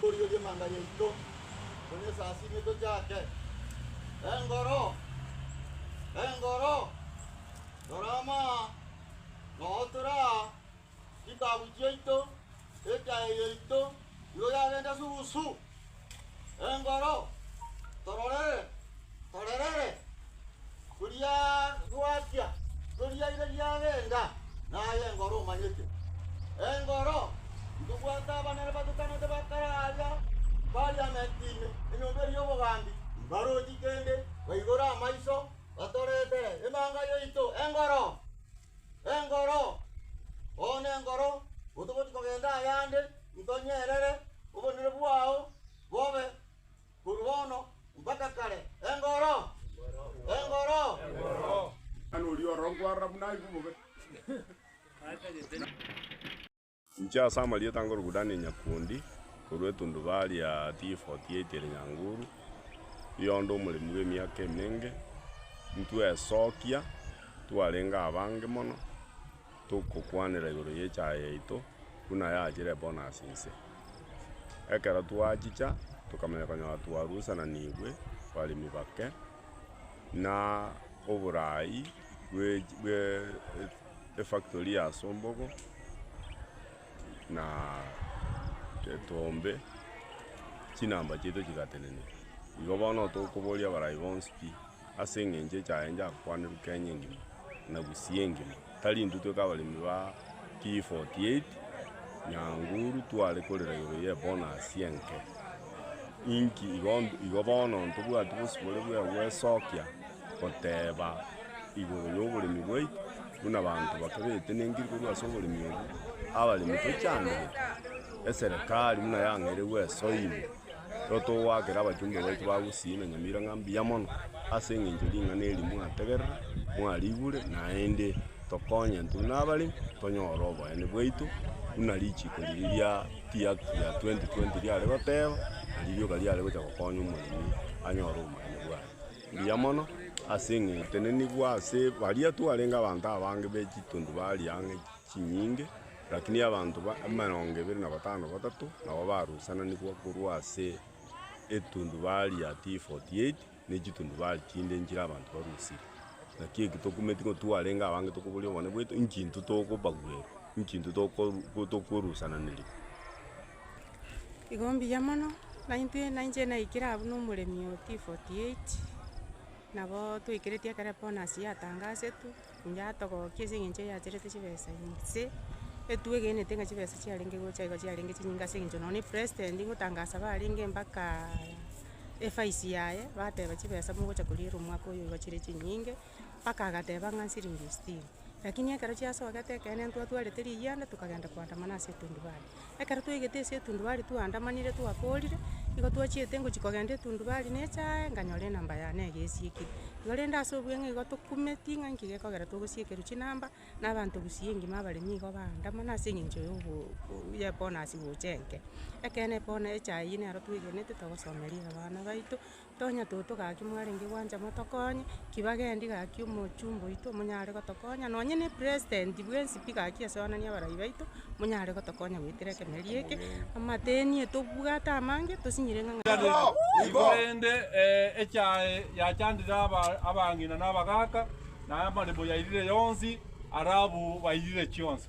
Rirorio ri'amanga yaito, Omonene Yeso asiimwe, tochake. Engoro! Engoro! Rora amaa, nootore aa, chitaabu chiaito, ekeaye yaito, nigo yagende susu. Engoro! Tororere! Ororere, koria gwachia toriaire riagenda, naye engoro omanyete. Engoro ntobwate abanene batutanete bakare aria Parliament ime, enyomba eria y'obogambi, mbarochi kende baigore amaiso batoretere emanga yaito. Engoro! Engoro! Oo nengoro, otogochi kogenda ayande, intonyerere, obonene bwao bobe. korwa bono mpaka kare. Engoro! Engoro! Inche ase amarieta nkorokwa Daniel Nyakuondi, korwa etundubari ya T48 ere Nyanguru, erio onde omoremi bw'emiaka emenge, ntwesokia, twarenge abange mono. Togokwanera igoro y'echaye yaito, buna yachire bono ase inse. Ekero twachicha, tokamanya konyora twarusananigwe baremi bake, na oboraai bwe bwe efactory ya sombogo, na etombe, chinamba chiaito chigatenena. Igo bono tokoboria abarai bonsi pi. Ase engencho echaye njakokwanerwa Kenya engima na Gusii engima. Tari intwe tweka abaremi ba P48, Nyanguru tware korera igoro ye bonus enke. Inki igo igo bono ntobwati bosibore bwe gwesokia goteba igoro yoboremi bwaito buna abanto bake betenenkirie korwa ase oboremi obo, abaremi tochandegete, eserekari buna yang'eire gwesoimia. Nero togoakera abachumba baito ba Gusii na Nyamira ng'a mbuya mono ase engencho ya ring'ana eri mwategerire, mwarigure, naende tokonyete buna abaremi tonyore oboyani bwaito, buna richiiko riria ria Tea Act ya 2020 riare goteba, na ririoka riare gocha gokonya omoremi anyore oboyani bwaye. Mbuya mono ase eng'e tenenigwe ase baria twarenge abanto abange be chitundu baria ang'e. chinyinge, lakini abanto emerongo ebere na batano batato nabo barusananigwa korwa ase etundubari ya T-48 ne chitundubari chinde nchire abanto barusire. Naki eki tokumeti ng'a twarenge abange tokoboria obonene bwaito, inki intwe tokobagwerwa? Inki intwe tokorusananirigwa? Igo mbuya mono, naintwe nainche naikire abwo na omoremi oo T-48, nabo twaikereti ekero bonus yatangasetwe. Inche atogokia ase eng'encho yaacherete chibesa ime, gose etugo egenete ng'a chibesa chiarenge gocha igo chiarenge chinyinge ase eng'encho nonya na president ngotangasa iga arenge mpaka efaisi yaye, bateba chibesa mogocha koriera omwaka oyo igo chire chinyinge, mpaka agateba ng'a nsiringi sitini. Lakini ekero chiasogete ekeene ntwatwarete riyianda tokagenda koandamana ase etundubare. Ekero twaigete ase etundubari twaandamanire twakorire, nigo twachiete ngochia kogenda etundubari neeche aae nkanyora enamba yane iga esiekire. Igo rende ase obweng'e igo tokumeti ng'a nki gekogera togosiekerwa chinamba na abanto gusii engima abare nigo baandamana ase eng'encho ya obo- o- ya ebonus gocha enke. Ekeene ebona- echaai eye nero twegenete togosomeri abana baito. Tonya toto gaki mwarenge gwancha motokonye, ki bagendi gaki omochumba oito monyare gotokonya, nonye ne president bwensi pi gaki ase onani abarai baito, monyare gotokonya goetera ekemeria eke, amateni etobwate amange tosinyire ng'a Korende echae yachandire abang'ina na abagaaka, na amaremo yairire yonsi, ara abwo bairire chionsi.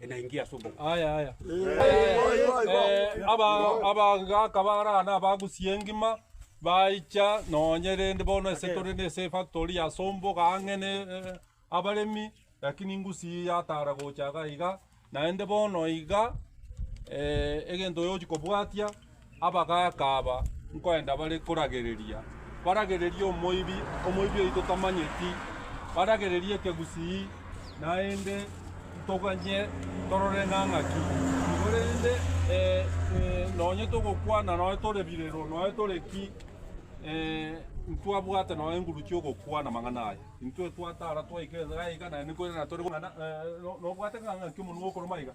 enaingia ase obo. Aya, aya. Eh, aba- abagaka bara na abagusi engima baicha nonye rende bono ase tore nese efactory ya sombo iga ang'e ne eh, abaremi lakini ngusi yatara gocha iga iga naende bono iga eh, egento oyochi kobwatia Abagaaka aba nkoenda bare koragereria, baragererie omoibi, omoibi oyio totamanyeti, baragererie ekegusii, naende ntoganye torore nang'a ki. Korende eh, nonye togokwana noe tore birero, noe tore ki, eh, ntwabwate noe enguru chi'ogokwana amang'ana aya. Intwe twatara twaika ense yaye iga, naende nkoirana tore kong'ana, eh, nobwate ng'a ng'aki omonwa okoroma iga?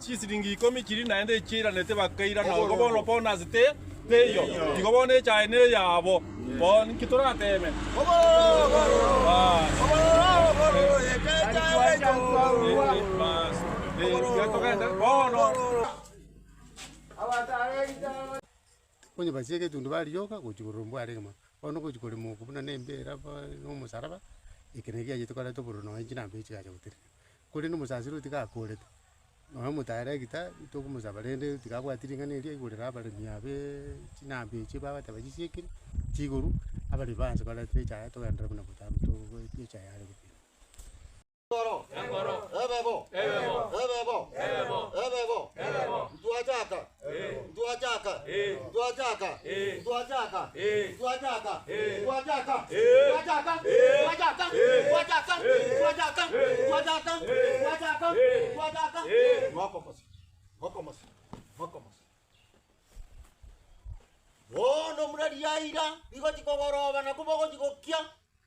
Chisiringi ikomi chiria naende echio airanete bakaira nogo bono bono ase te teiyo, igo bono echaye neyabo. Bono inki torateme? Bas. Onye basie egetundu bariyoka gochia korora ombware egima, bono gochia korema oko buna nembera, ba nomosaraba, eke naki giachete koreta obororo nonye chinambeyo chigacha gotenena. Korende omosaaseri otiga akoorete, nonya omotaare egita togomosaba rende tiga abwati ring'ana eria aigorere abaremi abe chinambe echio bagoteeba chisiekire chiiguru, abaremi baanche korenta echa yaye togenderere buna botaaro togoeta echa yare gokira. Bono buna riaira rigochia kogoroba nakwo bogochia gokia,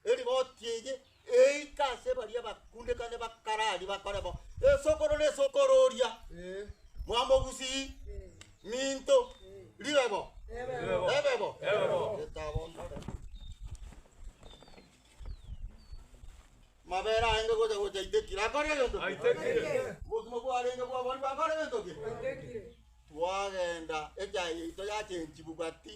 Erigoti eye eika ase baria bakundekane bakarari bakore bo esokoro ne esokoro oria mwamogusii minto ribe bo ebe bo Getabo ntare. Mabere aenge gocha gocha aitekire akore egento ki? Obogima bwarenge bwabori bakore egento ki? Twagenda echaye yaito yachenchiwu gati.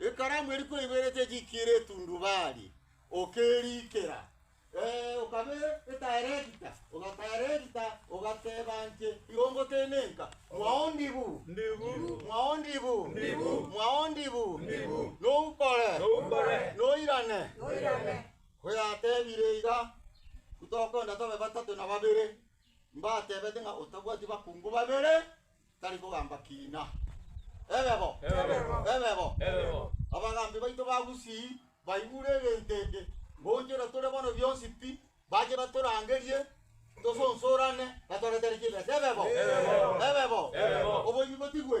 Ekaramu eri kweberete chiikire etundubari, okeriikera. Ee, okabe etaerekita, ogataerekita, ogateba inche igo ngotenenka, Mwao ndibu, mwao ndibu, mwao ndibu, noukore, noirane. Koyatebire iga, tokonda tobe batato na babere. Mbatebete ng'a otabwati bakungu babere, Tari kogamba kiina. Ebe bo! Ebe bo! Abagambi baito ba Gusii baigure egento eke, ngoonchora tore bono bionsi pi, bache batorangerie tosonsorane batware-tare chibesa. Ebe bo! Ebe bo! Oboibi botigwe!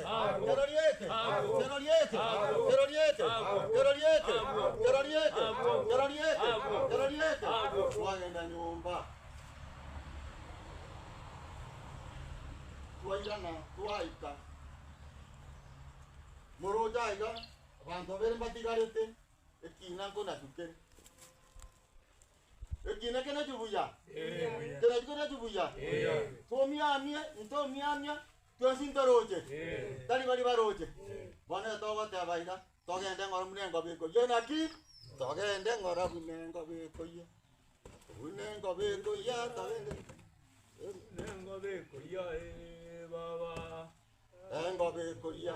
Twagenda nyomba, twairana twaika. Moroche aiga, abanto babere mbatigarete, ekina nkonachu kere. Ekina kenachu buya? Kenachu kenachu buya? Tomiamie, intomiamia, Twensi ntoroche? Tari baria baroche? Bono erio togoteba iga, Togende ng'ora buna engobe ekoyia naki? Togende ng'ora buna engobe ekoyia, buna engobe ekoyia, togende buna engobe ekoyia, ee baba, engobe ekoyia.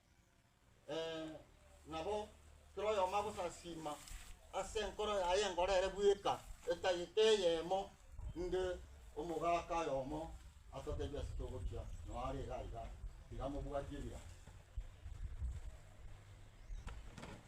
nabo kera oyomo agosasiima ase enkoro yaye engoro ere bweka, etagete eyemo, inde omogaka oyomo atoteebie ase togochia noo are igaa igaa, tiga mobwatie ebirango.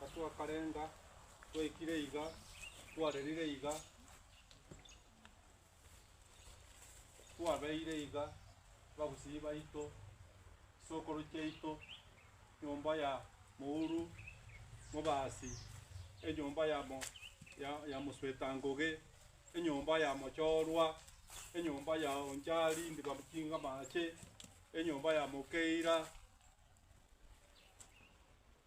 Gatwakarenga, twaikire iga, twarerire iga, twabeire iga, babusii baito, chisokoro chiaito, nyomba ya mouru, mobasi, enyomba ya mo- ya- ya mosweta ngoge, enyomba ya mochorwa, enyomba ya onchari ndibamuchinga amache, enyomba ya mokeira.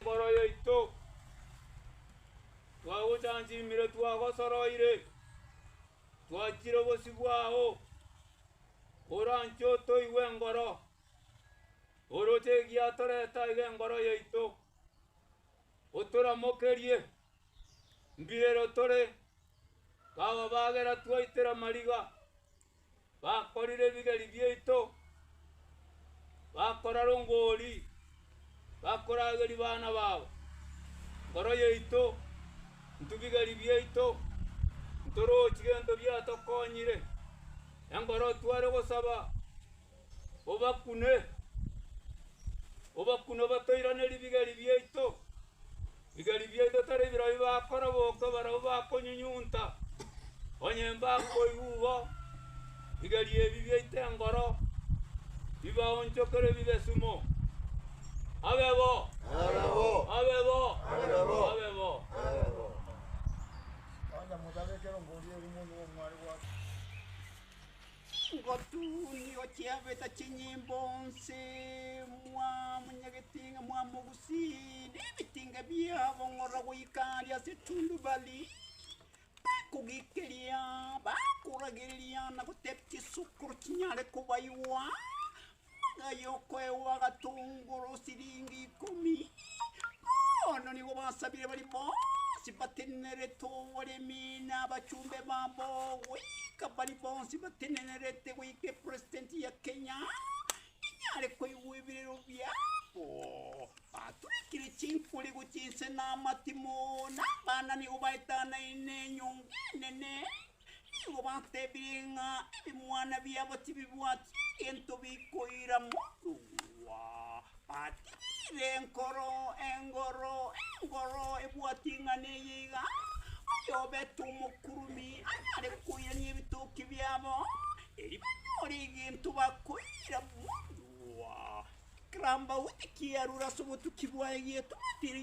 Mboro yaito, twagochanchinmire, twagosoroire, twachire obosio bwao, oranche otoigwe engoro, oroche egiatorete aiga engoro yaito, otoramokerie, mbirero tore, kababagera twaitera mariga. Bakorire ebigeri biaito, bakora rongori, bakorageria bana bao. Nkoro yaito, intwe bigeri biaito, ntorochi gento biatokonyire, enkoro tware gosaba. Obakune, obakune obatoirane ribigeri biaito. Bigeri biaito tari birobio bakoroboka barabwo bakonyunyunta, onye mbakoigwa igo, bigeri ebi biaito engoro, bibaonchokere bibe sumo. Abe bo! Abe bo! Abe bo! Ngotunio chiabeta chinyimbo onse, mwamonyegete ng'a mwamogusie, na ebitinga biabo ng'ora goika aria ase etundubari. Bakogekeria, bakoragereria, na gotebia chisokoro chinyare kobaigwa, Na Yokweo agatongora osiringi ikomi, bono nigo basabire bari bonsi batenenerete oboremi na abachumbe babo goika bari bonsi batenenerete goika epresident ya Kenya inyare koigwa ebirero biabo. Baturekire chinkori gochia inse na amatimo, na abana nigo baetanaine enyongo enene. Nigo batebirie ng'a ebimwana biabo tibibwati egento bikoira morua. Batiire enkoro, engoro, engoro ebwati ing'ana eye iga, Oyobete omokurumi arare koirania ebitoki biabo, erio banyore egento bakoira morua. Ekerambaute kiarure ase obotuki bwaye gietwatire.